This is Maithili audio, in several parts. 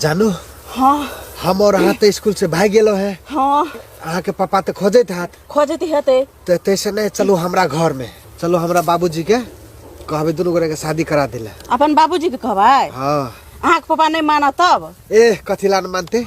जानू हाँ हम और अहाँ तो स्कूल से भाग गेलो है हाँ अहाँ के पापा तो खोजे थे खोजती हेते तो तैसे नहीं चलो हमरा घर में चलो हमरा बाबूजी के कहबे दुनू गोरे के शादी करा दिला अपन बाबूजी के कहबै हाँ अहाँके पापा नहि मानत तब ए कथी लान मानते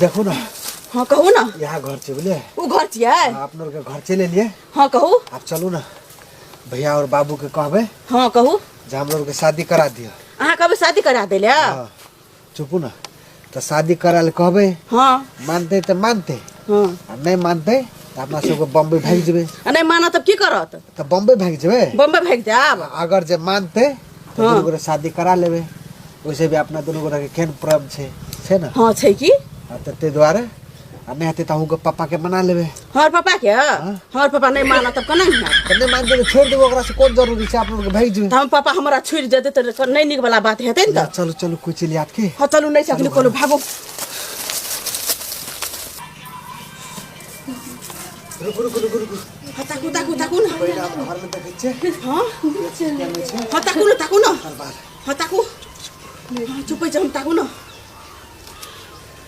देखो ना हाँ कहू ना यहाँ घर छै बुझलियै उ घर छियै अहाँ अपनो आरके घर चलि एलियै हाँ कहू आब चलू ने भैया आओर बाबूके कहबै हाँ कहू जे हमरो आरके शादी करा दिअ अहाँ कहबै शादी करा दै लए हाँ। चुपू ना तो शादी करा ले कहबे हाँ मानते तो मानते हाँ आ नहीं मानते तो अपना सबके बम्बई भाग जेबे आ नहीं माना तब की करत तो बम्बई भाग जेबे बम्बे भाग जाब अगर जे मानते तो हाँ। दुनू गोरे शादी करा लेबे वैसे भी अपना दुनू गोरे के केहन पर्व छै छै ना हाँ छै की आ तऽ ताहि दुआरे आ नहीं हते तो हूँ पापा के मना लेबे हमार पापा के हमार पापा नहीं माना तब कना है तो नहीं मान देबे छोड़ देबे ओकरा से कोन जरूरी छै आप लोग के भेज देबे तो हम पापा हमारा छुट जते तो नहीं निक वाला बात हेते न त चलो चलो कोई चली आत के हां चलू नहीं सकली कोनो भागो रुक रुक रुक रुक हां ताकू ताकू ताकू ना पहिले आप घर में देखे छे हां हां ताकू ना ताकू ना हर बार हां ताकू चुप जा हम ताकू ना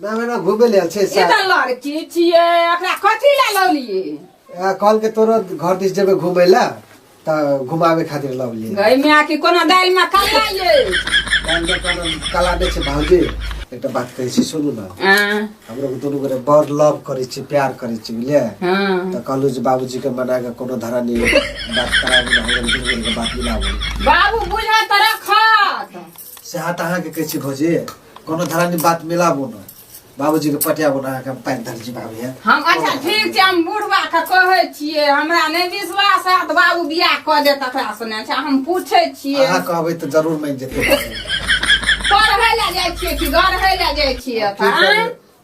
ना हमरा घूमे ले आयल छै ई सार तऽ लड़की छियै एकरा कथी लए लौलियै आ, कहल के तोरा घर दिस जेबे घूमे ला त घुमावे खातिर लव लिए गई माय की कोनो दालि में कल्ला ये काल के कोनो कला नै छै भाउजी एकटा बात कहै छी सुनू न हाँ, हमरो के दुनू गोरे बड़ लव करै छी प्यार करै छी बुझलियै हाँ। त कहलु जे बाबूजी के मना के कोनो धरा नै बात कराबू न हमरो दुनू गोरे के बात मिलाबू बाबू बुझा तरह खत से हाथ अहाँके कहै छी भौजी कोनो धरानी बात मिलाबू ने बाबूजीके पटाबू ने अहाँके हम पानि धरै छी बाबू हे हम अच्छा ठीक छै हम बुढ़वा के कहै छियै हमरा नहि विश्वास हैत बाबू बियाह कऽ देत तकरा से नहि अच्छा हम पूछै छियै अहाँ कहबै तऽ जरूर मानि जेतै पढ़ै लए जाइ छियै कि गढ़ै लए जाइ छियै की एतऽ करबै?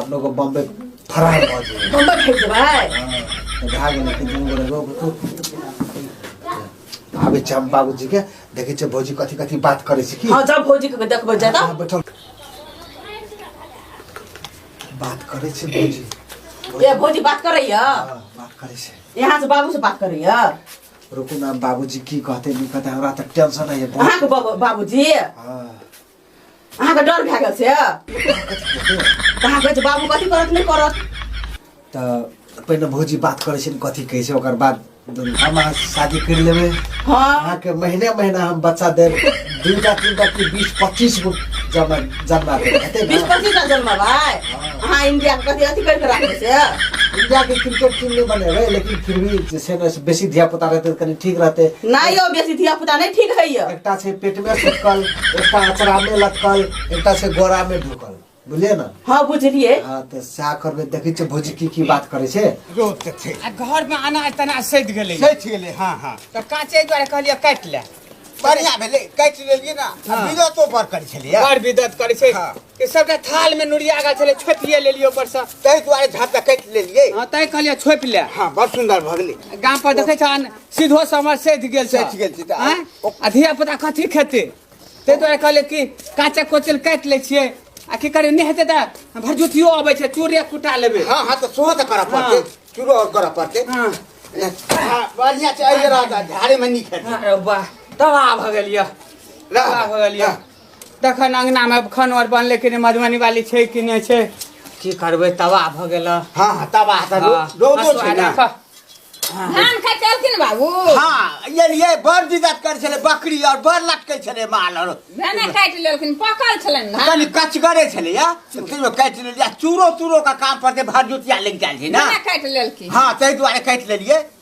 अपनो को बम्बे फरार भऽ जेबै बम्बे फेंक देबै हाँ, तो भए गेलै कि दुनू गोरे रोक तू आबै छै हम बाबूजी के देखै छै भौजी कथी कथी बात करै छै की हाँ जा भौजी के देखबै जा हाँ, बैठल बात करै छै भौजी ए भौजी बात करैय हाँ, बात करै छै यहाँ से बाबू से बात करैय रुकू ना बाबूजी की कहते नहीं कहते हमरा तो टेंशन है अहाँ के बाबूजी हाँ अहाँके डर भए गेल से कहाँ कहै छै बाबू कथी करत नहि करत तऽ पहिने भौजी बात करै छै ने कथी कहै छै ओकर बाद दुनू हम अहाँ शादी करि लेबै हँ अहाँके महीने महीना हम बच्चा देब दूटा तीनटा कि बीस पच्चीस गो जमा जन्मा देब हेतै बीस ने पच्चीस टा जन्म भाइ अहाँ इंडिया कथी अथी करि कऽ राखबै से इंडियाके क्रिकेट टीम नहि बनेबै लेकिन फिर भी जे छै ने से बेसी धियापुता रहतै तऽ कनि ठीक रहतै नहि यौ बेसी धिया पुता नहि ठीक होइए एकटा छै पेट में सुटकल एकटा अचरा में लटकल एकटा छै गोरा में ढुकल बुझलिए ना हां बुझलिए हां त सा करबे देखै छै भोजी की की बात करे छै जो त छै आ घर में अनाज तना सैद गेले सैद गेले हां हां त काचे द्वारा कहलिए काट ले बढ़िया भेले काट लेलिए ना बिदतो पर करे छलिए बड़ बिदत करे छै हाँ। कि सबटा थाल में नुरिया गेल छलै छोपिए लेलियै ऊपर से ताहि दुआरे झाप तऽ काटि लेलियै हँ तैं कहलियै छोपि ले हँ बड़ सुन्दर भऽ गेलै गाम पर देखै छहन सीधो समर सधि गेल छै सधि गेल छै तऽ आँय? आ धिया पुता कथी खेतै ताहि दुआरे कहलियै कि काचे कोचल काटि लै छियै आ की करियै नहि हेतै तऽ भरजुतियो अबै छै चूड़े कुटा लेबै हँ हँ तऽ सेहो तऽ करऽ पड़तै हँ। चूड़ो आओर करऽ पड़तै हँ हँ, बढ़िआँ छै एहि रहत झाड़ेमे नीक हेतै अरे वाह तबाह भऽ गेल यऽ तबाह भऽ गेल यऽ तखन अङ्गनामे खानो आर बनलै कि नहि मधुबनी वाली छै कि नहि छै की करबै तबाह भऽ गेल हँ हँ तबाह तऽ हँ, रौ- रौदो हँसुआ छै ने राखऽ। धान खाइ चलखिन बाबू हँ एलियै बड़ दिक्कत करै छलै बकरी आओर बड़ लटकै छलै माल आओर भेने काटि लेलखिन पकल छलनि धान कनि कचगरे छलै या से तैयो काटि लेलियै आ चूरो तूरो के काम पर जे भरजुतिया लागि जाइ छै ने भेने काटि लेलखिन हँ ताहि दुआरे काटि लेलियै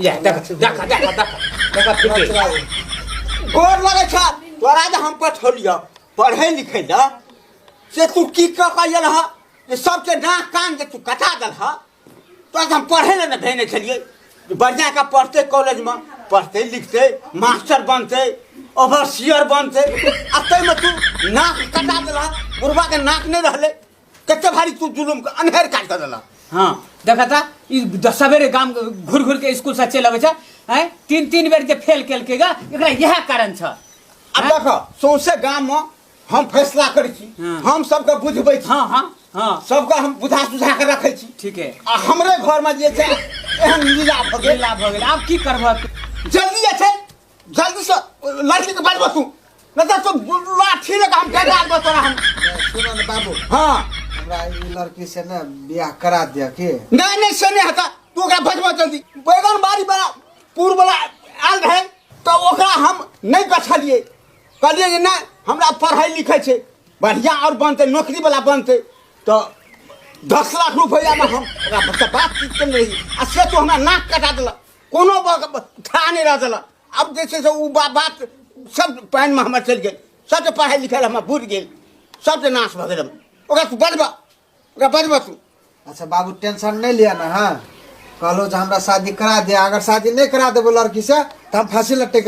या देख देख देख देख देख फिर गोर लगे छ तोरा जे हम पठौलियो पढ़े लिखे ल से तू की क के आयल ह जे सबके नाक कान के तू कटा दल ह तोरा हम पढ़े ले न भेने छलिए जे बढ़िया का पढ़ते कॉलेज में पढ़ते लिखते मास्टर बनते ओवरसियर बनते आ तैमे तू नाक कटा दल ह बुढ़वा के नाक नहीं रहले कते भारी तू जुलुम के अनहेर काट दे देला हाँ देखा था ई द- सवेरे गाम घुर घुर के स्कूल से चल अबै छै हैं तीन तीन बेर जे फेल केलकै गा एकरा यह कारण छ अब हैं? देखो सौंसे गाम में हम फैसला करै छी हाँ। हम सबके बुझबै छी हाँ हाँ हाँ सबके हम बुझा सुझा के रखै छी ठीक है आ हमरे घर में जे छै एहन लीला भऽ गेल लीला भऽ गेल आब की करबह तू जल्दी जे छै जल्दी से लड़की के बाजबो तू न त तो लाठी लगा हम फेंक आबो तोरा हम सुनो ना बाबू हां हमरा ई लड़की से ना बियाह करा दिया के नहीं नहीं से नहीं हता तू ओकरा भजबो जल्दी बैगन बारी बड़ा पूर्व वाला आल रहे तो ओकरा हम नहीं बछलिए कहलिए जे ना हमरा पढ़ाई लिखै छै बढ़िया और बनते नौकरी वाला बनते तो दस लाख रुपया में हम ओकरा बच्चा बातचीत करने रही आ से तो हमरा नाक कटा देलक कोनो ठा नहि रह देलक आब जे छै से ओ बात सब पानिमे हमर चलि गेल सबके पढ़ाइ लिखाइ हमर बुझि गेल सबके नाश भऽ गेल ओकरा तू बजबह ओकरा बजबह तू अच्छा बाबू टेंशन नहि लिअ ने हँ कहलहुँ जे हमरा शादी करा दे अगर शादी नहि करा देबो लड़कीसँ तऽ हम फाँसी लटकि